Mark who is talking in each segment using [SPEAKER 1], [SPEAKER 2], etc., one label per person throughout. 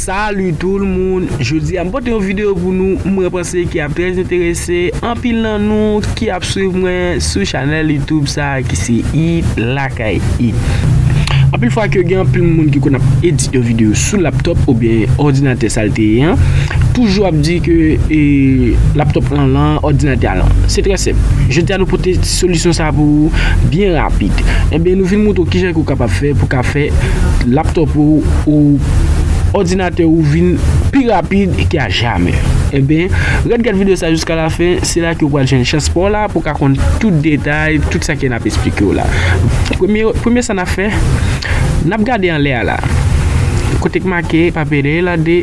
[SPEAKER 1] Salut tout le monde, jodi a m pote yon video pou nou mwen panse ki ap très interese anpil nan nou ki ap swiv mwen sou chanel youtube sa ki se it lakay it. Anpil fwa ke gen anpil moun ki konn ap edit yon video sou laptop ou bien ordinateur sa l te ye an, toujou ap di ke laptop lan lan, ordinateur a lan. Se très simple, jodi a nou pote Solisyon sa pou ou byen rapid. Ebyen nou vin moutre w kijan ke w kapab fè pou ka fè laptop ou ou òdinatè ou vin pi rapid ke a jamè. Ebyen ret gad video sa jiska la fen se la ke w pral jwenn chans pa w la pou w ka konn tout detay tout sa ke nap esplike w la. Premye premye sa nap fè nap gade anlè a la kote k make papere la de.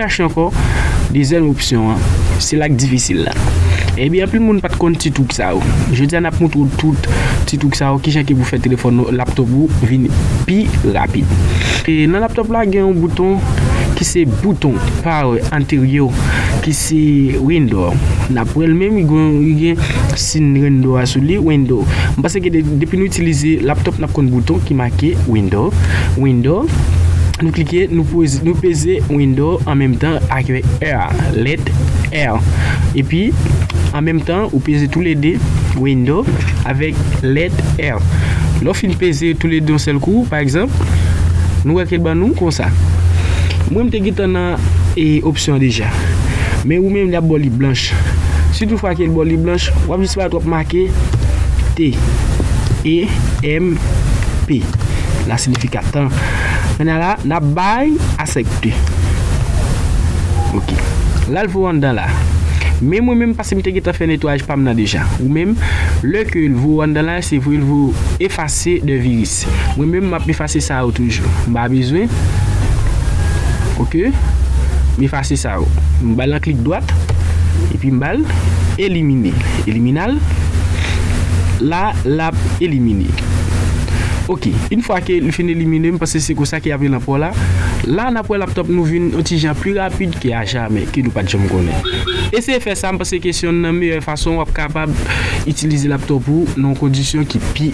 [SPEAKER 1] Chache ankò, dezyèm opsyon an, se la k difisil la. Ebyen anpil moun pat konn ti twouk sa yo. Jodi a nap montre w tout ti twouk sa yo, kijan ke pou fè telefòn ou, laptop ou vin pi rapid. Nan laptop la gen yon bouton ki se bouton power anteryo ki se window. Nap wè l menm li gen sin window a sou li, window. M panse ke depi nou itilize laptop. N ap konn bouton ki make Window, Window, nou klike nou peze Window an menm tan ak R, lèt R, epi an menm tan ou peze tou le 2 Window avèk lèt R. Lè w fin peze tou le 2 yon sèl kou, pa egzanp, nou wè ke l ban nou konsa. Mwen m te gentan nan opsyon an deja, men ou menm li ap ba w li blanch. Si tou fwa ke l ba w li blanch, w ap jis. Twòp make T, E, M, P. La sinifikat tan. Kounya la, n ap bay asèpte. Ok. Ralph ou anndan la? Men mwen menm pase m te gentan fè netwayaj pa m nan deja. Ou menm? Lè ke l vwe w anndan la, se vwe l vwe w efase de viris. Mwen menm map efase sa yo toujou m pa bezwen ok m efase sa yo m bal yon klik dwat epi m bal elimine eliminal la lap elimine ok yn fwa ke li fin elimine m paske se konsa ke yap rele anpò la la nap wè laptop nou vin yon ti jan pi rapid ke ajamè ke nou pat janm konnen eseye fè sa m panse ke se yonn nan meyè. Fason w ap kapab itilize laptop ou nan yon kondisyon ki pi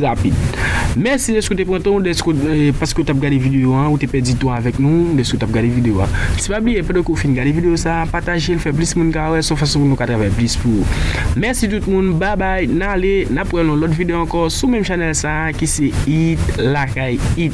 [SPEAKER 1] rapid. Mèsi deske w te pran tan w deske paske w t ap gade videyo an ou te pèdi tan w avèk nou deske w t ap gade videyo a. Si pa bliye pandan ke w fin gade videyo sa a pataje l fè plis moun ka wè s on fason pou nou ka travay plis pou ou. Mèsi tout moun babay n ale n ap wè l nan yon lòt videyo ankò sou menm chanèl sa a ki se It Lakay It.